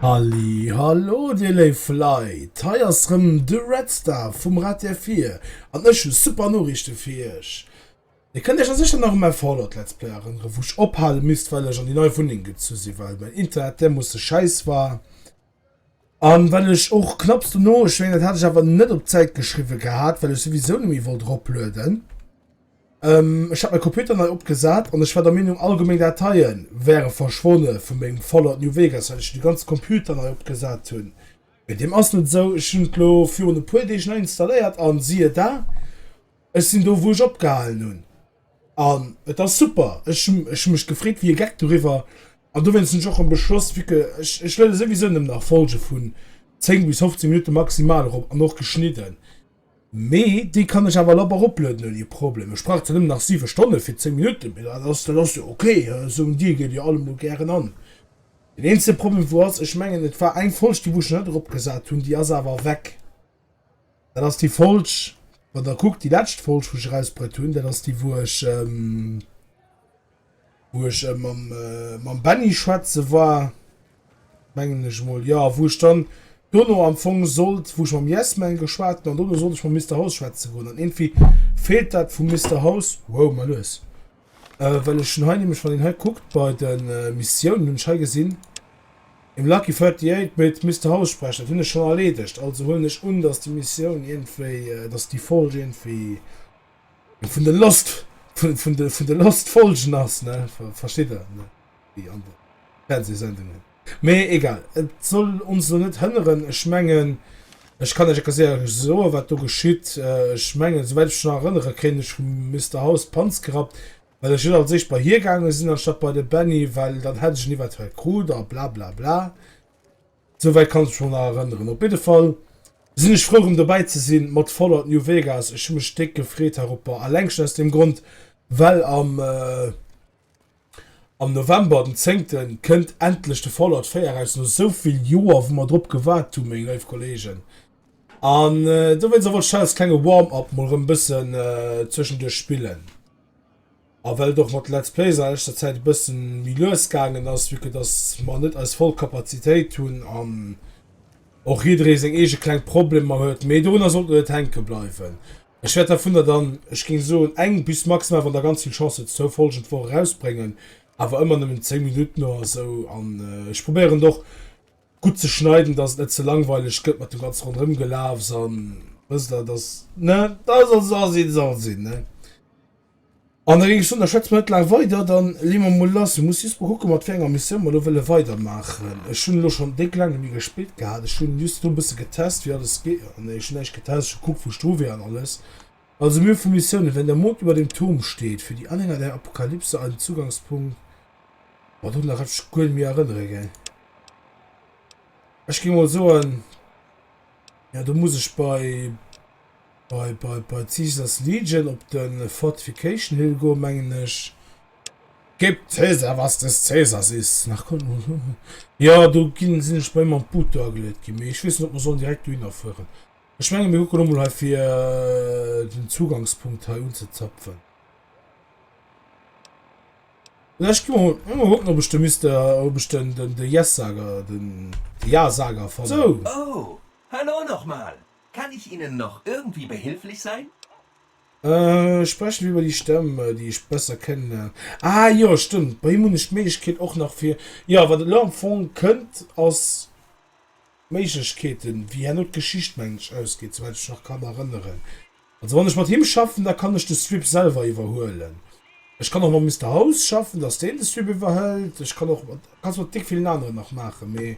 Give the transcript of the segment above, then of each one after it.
Halli hallo dir léif Leit, hei ass rëm de Redstar vum Rad der Vir an ech hu super Noriichte fir iech. Dir kënnt iech a sécher nach u mäi Fallout Let's Play erënneren, wou ech ophale misst well ech an déi nei Wunneng gezu sinn, well mäin Internet därmoosse schäiss war an well ech och knapps dono, ech mengen dat hat ech awer net op d'Säit geschriwwen gehat, well ech souwisou net méi wollt roplueden, ech hat mäi Computer nei opgesat an ech war der Meenung all gemeng Dateien wäre verschwonne vu mengem Fallout New Vegas well ech de ganze Computer nei opgesat hunn, mee deem ass net esou, ech hunn et elo virun e puer Deeg nei installéiert an siehe da, Ech sinn do wou ech opgehalen hunn an et ass super. Ech ech mech gefreet wéi e Geck doriwwer an dowéinst hunn ech och e Beschloss vu que ech ech luede souwisou nëmmen nach Folge vun 10 bis 15 Minutte maximal erop an och geschnidden. Mee déi kann ech awer lapp eroplueden ouni e Problem. Ech brauch zwar nëmmen nach 7 Stonne fir 10 Minutten, mee dat ass dat ass jo ok. Esou en Deal geet jo allemol gären an. Deen eenzege Problem wou ass, ech mengen et war eng Folg déi wou ech nach net eropgesat hunn, déi ass awer weg. Dat ass déi Folg, wann der kuckt, déi lescht Folg, wou ech erausbruet hunn. Dat ass déi, wou ech, ähm, wou ech äh, mam, äh, mam Benny schwätze war, mengen ech emol, jo, wou ech dann dono am Fong sollt, wou ech mam Yesman geschwat hunn an dono sollt ech mam Mister House schwätze goen. An iergendwéi feelt dat vum Mister House. Wow, mal lues! Well ech hunn hei nämlech, wann een hei kuckt bei de Missiounen, hunn ech hei gesinn, Im Lucky 38 mit Mister House sprechen. Dat hunn ech schonn erleedegt. Also huelen ech un, datt déi Missioun iergendwéi, datt déi Folge iergendwéi vun de Lost, vun de Lost-Folgen ass, ne? Versteet Der, ne? Déi aner Fernseesendungen. Mee egal, et soll ons elo net hënneren. Ech mengen, ech kann Iech erkläre soen, wat do geschitt. Ech mengen, esouwäit ech mech nach erënnere kéint, ech hu Mister House d'Panz gerappt, well ech net als éischt bei hie gaange sinn, anstatt bei de Benny, well dann hätt ech en eventuell krut a blablabla. Esouwäit kann ech mech nach emol erënneren. Op jidde Fall sinn ech frou, erëm dobäi ze sinn mat Fallout New Vegas. Ech hu mech déck gefreet heropper, alleng schonn aus deem Grond, well am. Am November, den zéngten, kënnt endlech de Fallout 4 eraus, no esou vill Joer wou mer drop gewaart hunn, meng léif Kolleegen. An dowéinst wollt ech dat als klenge Warm-up mol rëm e bëssen zwëschenduerch spillen. A well et och mat Let's Plays a leschter Zäit e bësse méi lues gaangen ass, vue que dass mer net eis voll Kapazitéit hunn an och jidderee seng eege kleng Problemer huet, mee dorunner sollt et net hänke bleiwen. Ech wäert dervunner dann, ech géing soen, eng bis maximal, wann der ganz vill Chance hutt, zwou Folgen d'Woch erausbréngen, awer ëmmer nëmmen 10 Minutten oder esou. An ech probéieren et och gutt ze schneiden, dass et net ze langweileg gëtt mat dem ganze Ronderëmgelaafs an, wësst Der, dass, ne, dass et soll sinn, soll et sinn, ne. An da géing ech soen, da schwätze mer net laang weider, da leeë mer emol lass. Mir musse just emol kucke mat wéi enger Missioun mer elo wëlle weidermaachen. Ech hunn elo schonn déck laang net méi gespillt gehat. Ech hunn just elo e bësse getest, wéi alles geet. Jo, nee, ech hunn näischt getest. Ech hu gekuckt, wou ech dru wier an alles. Also, mir hu vu Missiounen, Wenn der Mond über dem Turm steht, Für die Anhänger der Apokalypse ein Zugangspunkt. Boah, dorunner kann ech mech guer net méi erënnere, gell. Ech géing emol soen, jo, do muss ech bei. Bei d'Caesar's Legion op de Fortification Hill goen, mengen ech. Gib Caesar, was des Caesars is! Jo, do ginn, sinn ech bei mam Boot do ageluet ginn, mee ech weess net, ob mer sollen direkt dohinner fueren. Ech menge mir kucken emol hei, fir den Zugangspunkt hei unzezapfen. Oder ech ginn emol kucken, ob ech de Mister, ob ech den Yes-Sager, den Ja-Sager fannen. Sou! Oh, hallo nochmol! Kann ich Ihnen noch irgendwie behilflich sein? Sprechen wir über die Stemm, déi ech besser kennenlernen. Ah jo, stëmmt, bei him hunn ech d'Méiglechkeet och nach fir, jo, wat et elo am Fong kënnt, ass d'Méiglechkeeten, wéi herno d'Geschicht, mengen ech, ausgeet, souwäit ech mech nach kann erënneren. Also wann ech mat him schaffen, da kann ech de Strip selwer iwwerhuelen. Ech kann och mam Mister House schaffen, dass deen de Strip iwwerhëlt. Ech kann och, kannst mat déck villen aneren nach maachen, mee.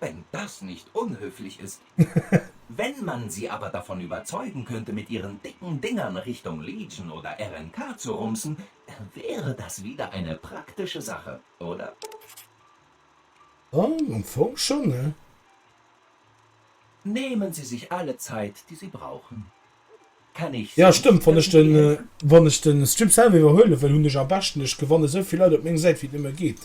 Wenn das nicht unhöflich ist. Wenn man sie aber davon überzeugen könnte, mit ihren dicken Dingern Richtung Legion oder RNK zu rumsen, dann wäre das wieder eine praktische Sache, oder? Jo, am Fong schon, ne? Nehmen Sie sich alle Zeit, die Sie brauchen. Kann ich sonst irgendwie helfen? Jo, stëmmt. Wann ech de Stream selwer iwwerhuele wëll, hunn ech am beschten, ech gewanne souvill Leit op meng Säit, wéi et nëmme geet.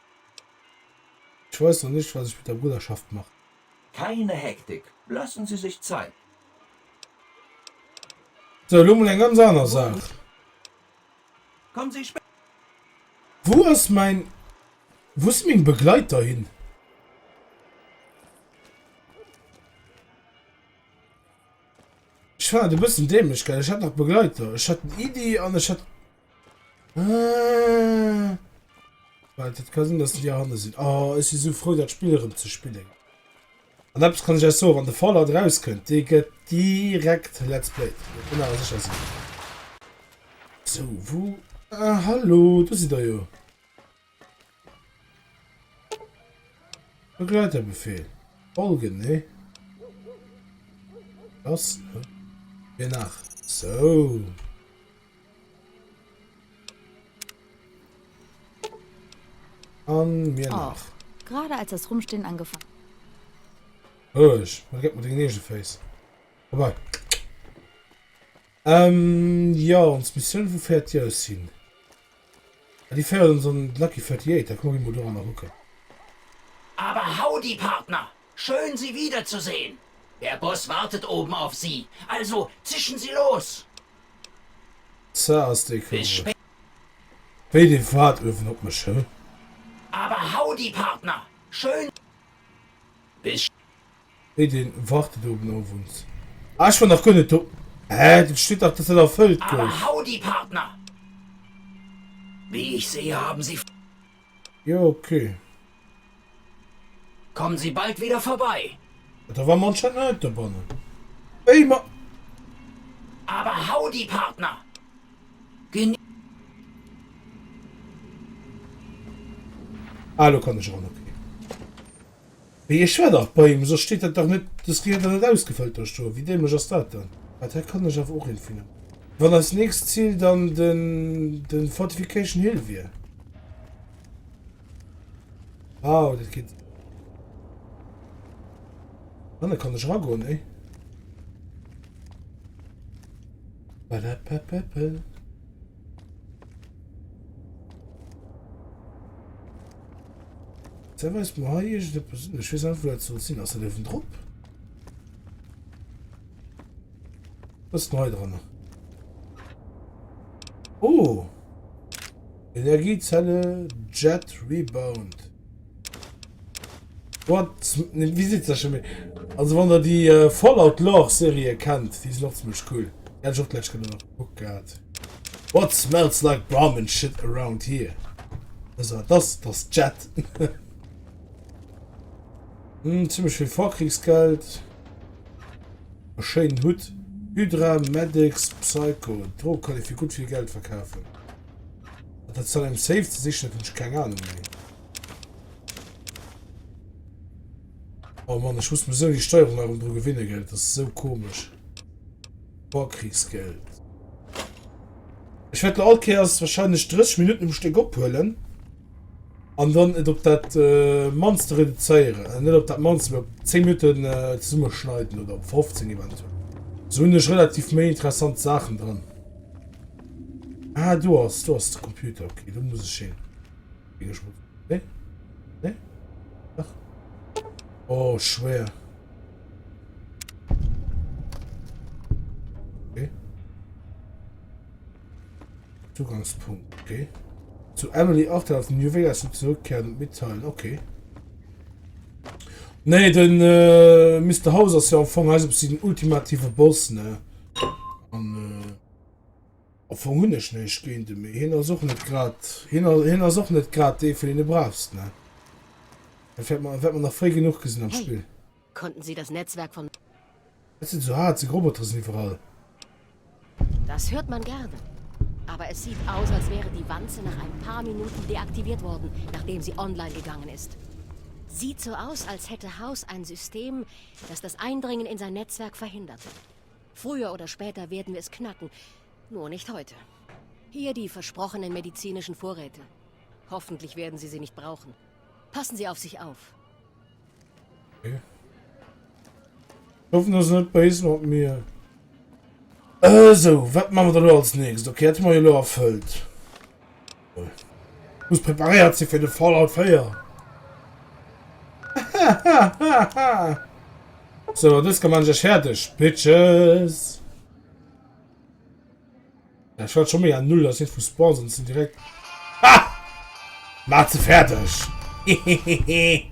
Ech weis nach nicht was ech mit der Bruderschaft machen. Keine Hektik, lassen Sie sich Zeit. Sou, lo mol eng ganz aner Saach. Kommen Sie später. Wou ass mein, wou si meng Begleiter hin? Ech fannen et e bëssen dämlech, gell? Ech hat nach Begleiter, ech hat den Edy an ech hat. Ah. Weil das kann sein, dass die da hinten sind. Oh, ich bin so froh, das Spiel rum zu spielen. Und etwas kann ich euch sagen, wenn der Fallout rauskommt, die geht direkt Let's Play. Ich bin aber sicher so. So, wo? Ah, hallo, du siehst da ja. Begleiterbefehl. Folgen, ne? Das, ne? Hier nach. So. An mir oh, nach. Gerade als das Rumstehen angefangen. Oh, ich. Man gibt mir den nächsten Face. Vorbei. Ähm, ja, uns Mission, wo fährt ihr es hin? Déi féiert ons an d'Lucky 38, da komme mir mol doranner kucken. Aber howdy Partner, schön Sie wieder zu sehen! Der Boss wartet oben auf Sie, also zischen Sie los! Ca ass dee komesch wéi dee waart uewen op mech, huh? Aber howdy Partner, schön Sie. Wéi deen wartet oben owends. Ah ech war nach guer net do. Hä et steet dach dass dat erfëllt gouf. Aber howdy Partner! Wie ich sehe haben Sie. Jo ok. Kommen Sie bald wieder vorbei. Ah da war mer anscheinend nach net dobannen. Wéi mer. Aber howdy Partner! Geni. Ah elo kann ech eran ok. Mee ech war dach bei him, soss steet dat dach net, dës gehéiert dach net ausgefëllt do. Scho, wéi dämlech ass dat dann? Ah, dat kann ech awer och een vun hunn. Wann eist nächst Zil dann den, den Fortification Hill wier. Wow, dat geet. Ah, da kann ech eragoen, ey. Badapapapa. Ze weis du ha ech de persinnlech wis einfach dat soll sinn ass dat ewen drop was neu dran oh energiezelle jet rebound What? Ne, wie sitzt da schon mit? Also, wann der die äh, Fallout Lore Serie kennt, die sind auch ziemlich cool. Hätte ich auch gleich können noch geguckt gehabt. What smells like Brahmin shit around here? Also, das, das Jet. hm, ziemlich viel Vorkriegsgeld. Einen schönen Hut. Hydra, Medics, Psycho. Drogen kann ich für gut viel Geld verkaufen. Das soll im Safe zu sichern, ich keine Ahnung mehr. Oh Mann, ich muss mir so die Steuerung nach dran gewinnen, gell? Das ist so komisch. Vorkriegsgeld. Ich werde Alkeers wahrscheinlich 30 Minuten im Stück abholen. Und dann nicht auf das äh, Monster reduzieren. Äh, nicht auf das Monster, aber 10 Minuten äh, zusammenschneiden oder 15 eventuell. So sind relativ mehr interessante Sachen drin. Ah, du hast, du hast den Computer. Okay, du musst es sehen. Ech muss. Nee. Nee. Ach. Oh, schwer. Okay. Zugangspunkt, okay. Zu Emily Arthur aus New Vegas und zurückkehren und mitteilen, okay. Nee, den äh, Mr. House ist ja am Fong also den ultimative Boss, ne? Und, äh Amfong hun ech néischt géint en, mee hien ass och net grad, hien ass och net grad dee vun den de brauchst, ne? Dat wärt mer, wärt mer nach fréi genuch gesinn am Spill. Hey, konnten Sie das Netzwerk von. Ech sinn sou haart, seng Robotere sinn iwwerall. Das hört man gerne. Aber es sieht aus, als wäre die Wanze nach ein paar Minuten deaktiviert worden, nachdem sie online gegangen ist. Sieht so aus, als hätte House ein System, das das Eindringen in sein Netzwerk verhindert. Früher oder später werden wir es knacken, nur nicht heute. Hier die versprochenen medizinischen Vorräte. Hoffentlich werden Sie sie nicht brauchen. Passen Sie auf sich auf. Okay. Ich hoffe, das ist nicht böse mit mir. Äh, so, was machen wir da als nächstes? Okay, das haben wir ja erfüllt. Muss preparéiert sinn fir de Fallout 4. So, dës kann man sech fertig, Bitches. Ja, ich war schon mega null, dass ich Spawn sind, sind direkt. Ha! Mach sie fertig! Hehehehe.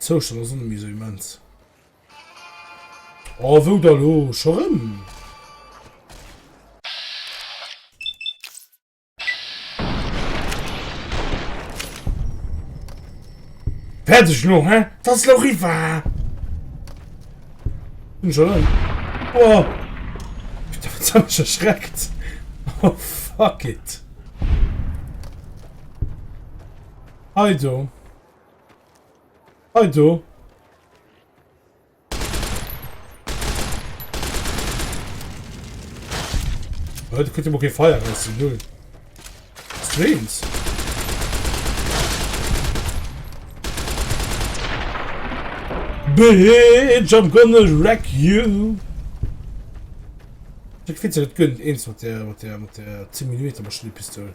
D'Zoustand ass net méi esou immens. Oh, wou da lo? Scho rëm? Fäerdeg lo, hä? Dat ass lo riwwer! Hunn scho rëm. Oh! Ech dacht, se hat mech erschreckt. Oh, fuck it! Hei do. Hei do. Heute könnt ihr mal kein Feuer messen, null. Streams. Bitch, I'm gonna wreck you. Ich finde es nicht gut, eins mit der, mit der, mit der 10 mm Maschinenpistole.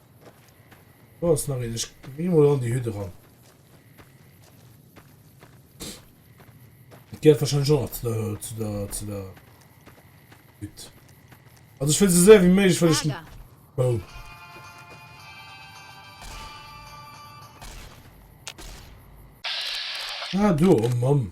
Oh, ist nach ich gehe mal an die Hütte ran. Geht wahrscheinlich schon zu der, zu der, zu der Hütte. Also ich will so sehr wie möglich, weil ich... Oh. Ah, du, oh Mann.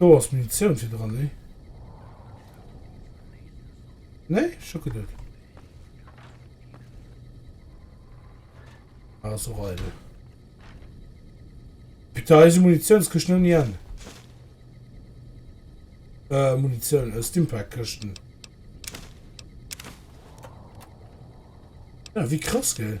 Do ass Munitioun fir dran, nee? Nee, ech hu geduet. Ah, ass och eidel. Putain, eise Munitiounskëschten ouni Enn. Äh, Munitioun, äh, Stimpack-Këschten. Ja, wie krass, gell?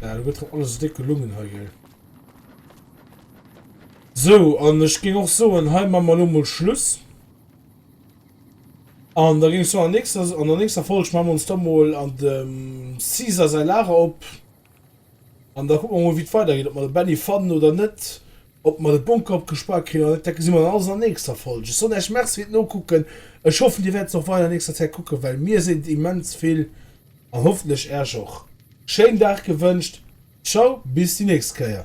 Ja, du gëtt doch alles dick gelungen hei, gell. So, an ech ging och soen, hei man mal lomoul Schluss. An da gingst du an nächster an der nächster Folg man ons domoul an dem Caesar sei Lager op. An da guck man mol wit weider geet, ob man de Benny fannen oder net, ob man de Bunker opgespaart krin oder net, dat gesi mer dann alles an der nächster Folg. Ech soen äech Merci firt Nokucken, ech hoffen dir wärt se och weider an nächster Zäit kucken, well mir sinn immens vill a hoffentlech äerch och. Schéin Dag gewënscht, ciao bis déi nächst Kéier.